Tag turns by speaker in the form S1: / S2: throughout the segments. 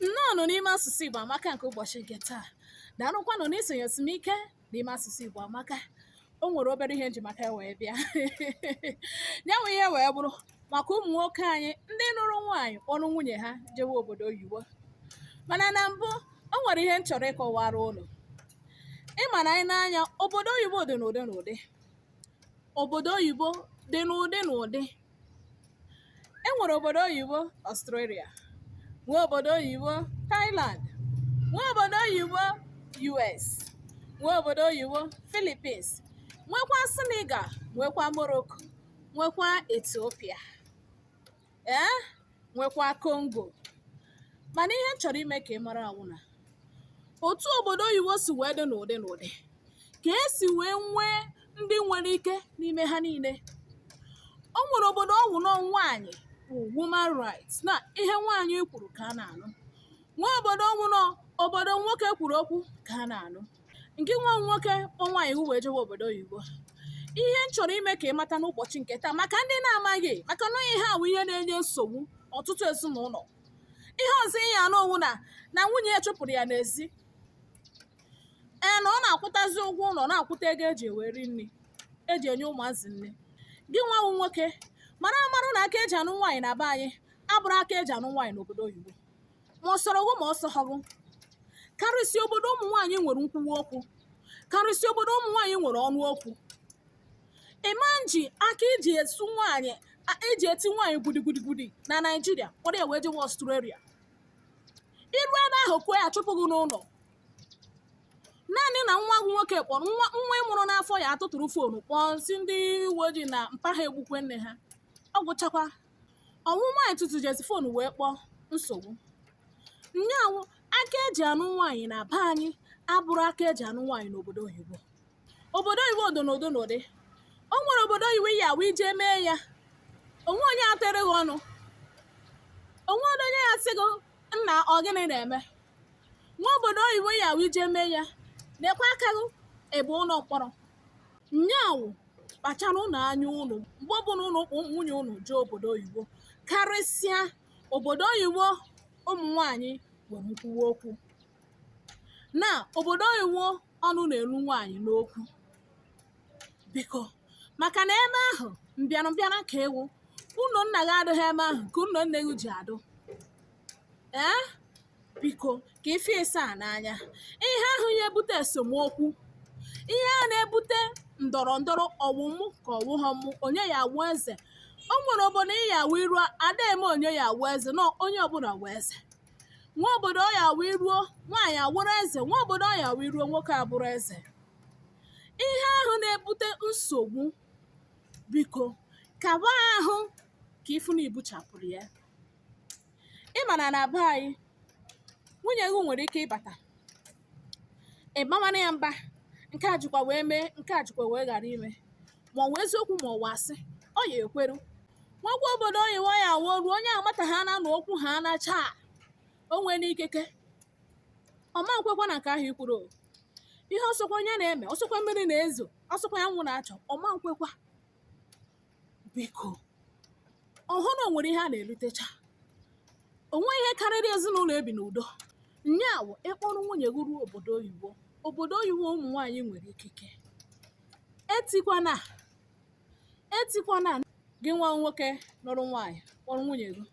S1: nnọọnụ n'ime asụsụ Igbo amaka nke ụbọchị nke taa daalụkwanụ na isonyesi m ike n'ime asụsụ Igbo amaka o nwere obere ihe m ji maka wee bịa ya nwa ihe wee bụrụ maka ụmụ nwoke anyị ndị nụrụ nwaanyị kpọrọ nwunye ha jewe obodo oyibo mana na mbụ o nwere ihe m chọrọ ịkọwara ụnụ ị ma na anyị n'anya obodo oyibo dị n'ụdị n'ụdị obodo oyibo dị n'ụdị n'ụdị e nwere obodo oyibo Australia nwee obodo oyibo Thailand nwee obodo oyibo US nwee obodo oyibo Philippines nwekwa Senegal nwekwa Morocco nwekwa Ethiopia ee nwekwa Congo mana ihe m chọrọ ime ka ị mara awụ na otu obodo oyibo si wee dị n'ụdị n'ụdị ka esi wee nwee ndị nwere ike n'ime ha niile o nwere obodo ọ wụ na ọ nwaanyị wụ woman rights na ihe nwaanyị kwuru ka a na-anụ nwee obodo ọ wụ na obodo nwoke kwuru okwu ka a na-anụ ngị nwa wụ nwoke kpọ nwaanyị gị wee jewe obodo oyibo ihe m chọrọ ime ka ị mata n'ụbọchị nke taa maka ndị na-amaghị maka na ihe a bụ ihe na-enye nsogbu ọtụtụ ezinụlọ ihe ọzọ ị ya-anụ ọ wụ na na nwunye ya chụpụrụ ya n'ezi ee na ọ na-akwụtazi ụgwọ ụlọ na-akwụta ego eji eweri nri eji enye ụmụazị nri gị nwa wụ nwoke mara amara na aka eji anụ nwaanyị na be anyị abụrọ aka eji anụ nwaanyị n'obodo oyibo ma ọ sọrọ gị ma ọ sọghọ gị karịsịa obodo ụmụ nwaanyị nwere nkwuwa okwu karịsịa obodo ụmụ nwaanyị nwere ọnụ okwu ịma nji aka iji esu nwaanyị a- iji eti nwaanyị gudigudi na naijiria kpọrọ ya wee jewe Australia i ruo ebe ahụ kụọ ya a chụpụ gị n'ụlọ naanị na nwa gị nwoke kpọrọ nwa nwa ị mụrụ n'afọ ya atụtụrụ foonu kpọọ sị ndị uwe ojii na mpa ha egbukwe nne ha ọ gwụchakwa ọ wụ nwaanyị tụtụjezi fon wee kpọọ nsogbu nya wụ aka eji anụ nwaanyị na be anyị abụrọ aka eji anụ nwaanyị n'obodo oyibo obodo oyibo ọ dị n'ụdị n'ụdị o nwere obodo oyibo ya wụ i jee mee ya o nwee onye atụrụ gị ọnụ o nwee onye ya-asị gị nna ọ gịnị na-eme nwee obodo oyibo ya wụ i jee mee ya nekwa aka gị ebe ụlọ mkpọrọ nya wụ kpachara ụnụ anya ụnụ mgbe ọbụla ụnụ kpọ nwunye ụnụ jee obodo oyibo karịsịa obodo oyibo ụmụ nwaanyị nwere nkwuwa okwu na obodo oyibo ọnụ na-eru nwaanyị n'okwu biko maka na ebe ahụ mbịara mbịara ka ị wụ ụlọ nna gị adịghị ebe ahụ ka ụlọ nne gị ji adụ ee biko ka ife ịsa a n'anya ihe ahụ ya ebute esemokwu ihe ahụ na-ebute ndọrọ ndọrọ ọ wụ mụ ka ọ wụghọ mụ onye ya awụ eze o nwere obodo ị ya awụ i ruo ada eme onye ya awụ eze na onye ọbụla wụ eze nwee obodo ọ ya awụ i ruo nwaanyị awụrụ eze nwee obodo ọ ya awụ i ruo nwoke abụrụ eze ihe ahụ na-ebute nsogbu biko kaba ahụ ka ị fụ na i buchapụrụ ya ị ma na na be anyị nwunye gị nwere ike ịbata ị bawara ya mba nke a jikwa wee mee nke a jikwa wee ghara ime ma ọ wụ eziokwu ma ọ wụ asị ọ ya ekweru nwekwa obodo oyibo ya awụ o ruo onye amata ha na na okwu ha anacha o nwee n'ikeke ọ ma nkwekwa na nke ahụ i kwuru o. ihe ọ sọkwa onye na-eme ọ sọkwa mmiri na-ezo ọ sọkwa anwụ na-acha ọ ma nkwekwa biko ọ hụ na o nwere ihe a na-erutecha o nweghị ihe karịrị ezinụlọ ibi n'udo nya wụ ị kpọrọ nwunye gị ruo obodo oyibo obodo oyibo ụmụ nwaanyị nwere ikike etikwana etikwana gị nwa nwoke lụrụ nwaanyị kpọrọ nwunye gị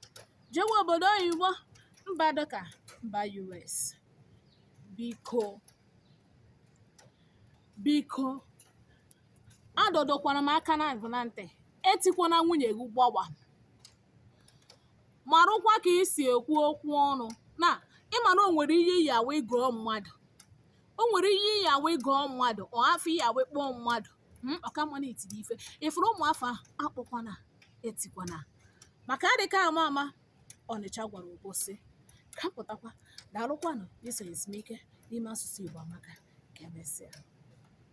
S1: jewe obodo oyibo mba dịka mba US biko biko adọdọkwara m aka na gị na ntị etikwana nwunye gị gbọwa marụkwa ka i si ekwu okwu ọnụ na ị ma na o nwere ihe ị ya awụ ị gụọ mmadụ o nwere ihe ị ya awụ ị gụọ mmadụ ọ afa ị ya awụ ị kpọọ mmadụ mm, ọ ka mma na i tiri ife ị fụrụ ụmụ afa ahụ akpọkwana etikwana maka adịka ama ama ọnịcha gwara Obosi ka m pụtakwa daalụkwanụ i so nyesi m ike n'ime asụsụ igbo amaka ka emesịa